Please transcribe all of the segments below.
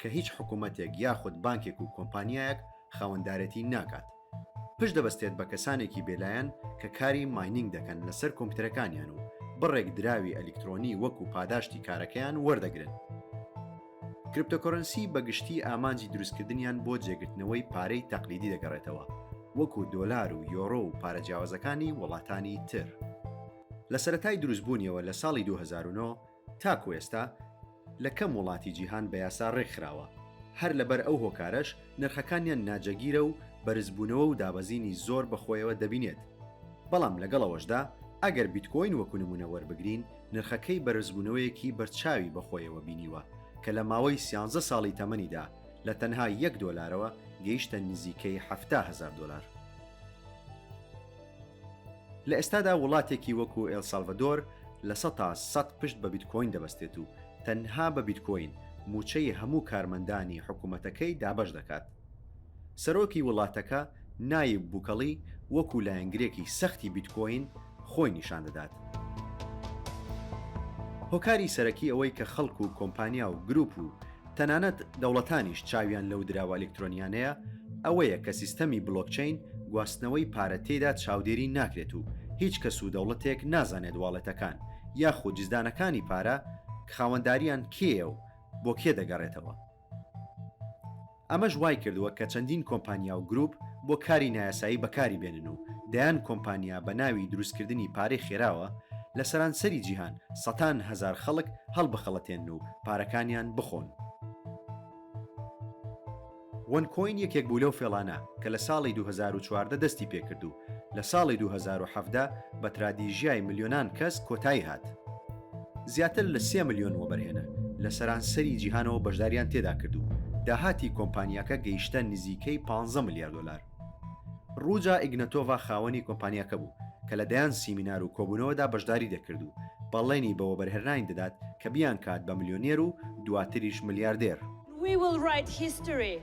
کە هیچ حکوومەتێک یاخود بانکێک و کۆمپانیایەک خاوەندارێتی ناکات، پشت دەبەستێت بە کەسانێکی بێلایەن کە کاری ماینینگ دەکەن لەسەر کۆمپیوتەرەکانیان و بڕێک دراوی ئەلیکترۆنی وەکو پاداشتی کارەکەیان وەردەگرن. کریپتۆکۆرەنسی بە گشتی ئامانجی دروستکردنیان بۆ جێگرتنەوەی پارەی تەقلیدی دەگەڕێتەوە وەکو دۆلار و یۆرۆ و پارە جیاوازەکانی وڵاتانی تر. لە سەرەتای دروستبوونیەوە لە ساڵی دوو هەزار و نۆ، تاکو ئێستا لە کەم وڵاتی جیهان بە یاسا ڕێکخراوە، هەر لەبەر ئەو هۆکارەش نرخەکانیان ناجێگیرە و بەرزبوونەوە و دابەزینی زۆر بە خۆیەوە دەبینێت، بەڵام لەگەڵ ئەوەشدا ئەگەر بیتکۆین وەکو نمونە وەربگرین نرخەکەی بەرزبوونەوەیەکی بەرچاوی بە خۆیەوە بینیوە کە لە ماوەی سیانزە ساڵی تەمەنیدا لە تەنها یەک دۆلارەوە گەیشتە نزیکەی حەفتا هەزار دۆلار. لە ئێستادا وڵاتێکی وەکو ئێل سالڤەدۆر لە سەتا سەد پشت بە بیتکۆین دەبەستێت و تەنها بە بیتکۆین مووچەی هەموو کارمەندانی حکومەتەکەی دابەش دەکات. سەرۆکی وڵاتەکە نایب بوکەڵی وەکو لایەنگرێکی سەختی بیتکۆین خۆی نیشان دەدات. هۆکاری سەرەکی ئەوەی کە خەڵک و کۆمپانیا و گروپ و تەنانەت دەوڵەتانیش چاویان لەو دراوە ئەلکترۆنیانەیە، ئەوەیە کە سیستەمی بلۆکچەین گواستنەوەی پارە تێیدا چاودێری ناکرێت و هیچ کەس و دەوڵەتێک نازانێت واڵێتەکان یاخود جزدانەکانی پارە خاوەنداریان کێیە و بۆ کێ دەگەڕێتەوە. ئەمەش وایکردووە کە چەندین کۆمپانیا و گروپ بۆ کاری نایاسایی بەکاری بێنن و دەیان کۆمپانیا بە ناوی دروستکردنی پارەی خێراوە لە سەرانسەری جیهان سەتان هەزار خەڵک هەڵبخەڵەتێنن و پارەکانیان بخۆن. وەن کۆین یەکێک بوو لەو فێڵانە کە لە ساڵی دوو هەزار و چواردە دەستی پێکرد و لە ساڵی دوو هەزار و حەڤدە بە ترادیژیای ملیۆنان کەس کۆتایی هات. زیاتر لە سێ ملیۆن وەبەرهێنەر لە سەرانسەری جیهانەوە بەشداریان تێدا کرد و داهاتی کۆمپانیاکە گەیشتە نزیکەی پانزە ملیار دۆلار. ڕوجا ئیگنەتۆڤا خاوەنی کۆمپانیاکە بوو، کە لە دەیان سیمینار و کۆبوونەوەدا بەشداری دەکرد و بەڵێنی بە وەبەرهێنرانی دەدات کە بیانکات بە ملیۆنێر و دواتریش ملیاردێر. We will write history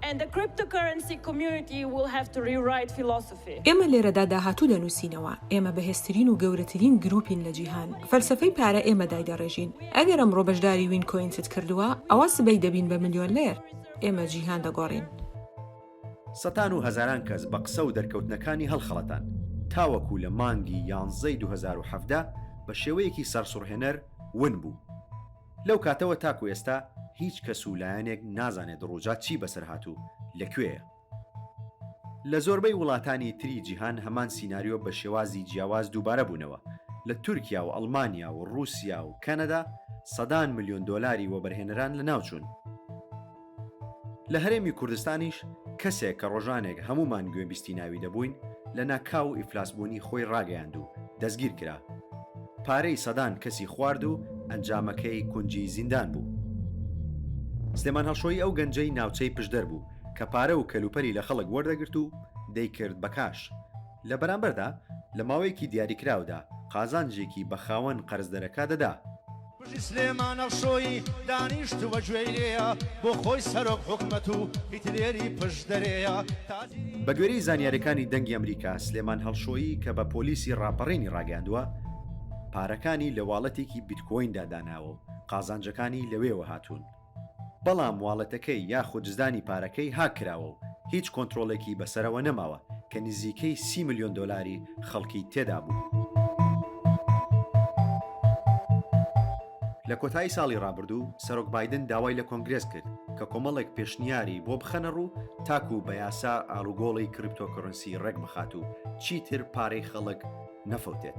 and the cryptocurrency community will have to rewrite philosophy. ئێمە لێرەدا داهاتوو دەنووسینەوە. ئێمە بەهێزترین و گەورەترین گرووپین لە جیهان. فەلسەفەی پارە ئێمە دایدەڕێژین. ئەگەر ئەمڕۆ بەشداری وینکۆینست کردووە، ئەوا سبەی دەبین بە ملیۆنلێر. ئێمە جیهان دەگۆڕین. سەتان و هەزاران کەس بە قسە و دەرکەوتنەکانی هەڵخەڵەتان، تاوەکو لە مانگی یانزەی دوو هەزار و حەڤدە بە شێوەیەکی سەرسوڕهێنەر ون بوو. لەو کاتەوە تاکو ئێستا هیچ کەس و لایەنێک نازانێت دڕوجا چی بەسەر هات و لە کوێیە. لە زۆربەی وڵاتانی تری جیهان هەمان سیناریۆ بە شێوازی جیاواز دووبارە بوونەوە، لە تورکیا و ئەڵمانیا و ڕووسیا و کەنەدا سەدان ملیۆن دۆلاری وەبەرهێنەران لەناوچوون. لە هەرێمی کوردستانیش کەسێک کە ڕۆژانێک هەموومان گوێبیستی ناوی دەبووین، لە ناکاو ئیفلاسبوونی خۆی ڕاگەیاند و دەستگیر کرا. پارەی سەدان کەسی خوارد و ئەنجامەکەی کونجی زیندان بوو. سلێمان هەڵشۆیی ئەو گەنجەی ناوچەی پشدەر بوو کە پارە و کەلوپەلی لە خەڵک وەردەگرت و دەیکرد بە کاش. لە بەرامبەردا لە ماوەیەکی دیاریکراودا قازانجێکی بە خاوەن قەرزدەرەکە دەدا. بژی سلێمانە شۆی دانیشتوە گوێی لێیە بۆ خۆی سەرۆک حکومەت و هیتلێری پشت دەرێیە تازی. بەگوێرەی زانیاریەکانی دەنگی ئەمریکا، سلێمان هەڵشۆیی کە بە پۆلیسی ڕاپەڕینی ڕاگەیاندووە، پارەکانی لە واڵێتێکی بیتکۆیندا داناوە و قازانجەکانی لەوێوە هاتوون. بەڵام واڵێتەکەی یاخود زدانی پارەکەی هاک کراوە و هیچ کۆنترۆڵێکی بەسەرەوە نەماوە کە نزیکەی سی ملیۆن دۆلاری خەڵکی تێدا بوو. لە کۆتایی ساڵی ڕابردوو سەرۆک بایدن داوای لە کۆنگرێس کرد کە کۆمەڵێک پێشنیاری بۆ بخەنە ڕوو تاکوو بە یاسا ئاڵوگۆڵی کریپتۆکۆرنسی ڕێک بخات و چیتر پارەی خەڵک نەفەوتێت.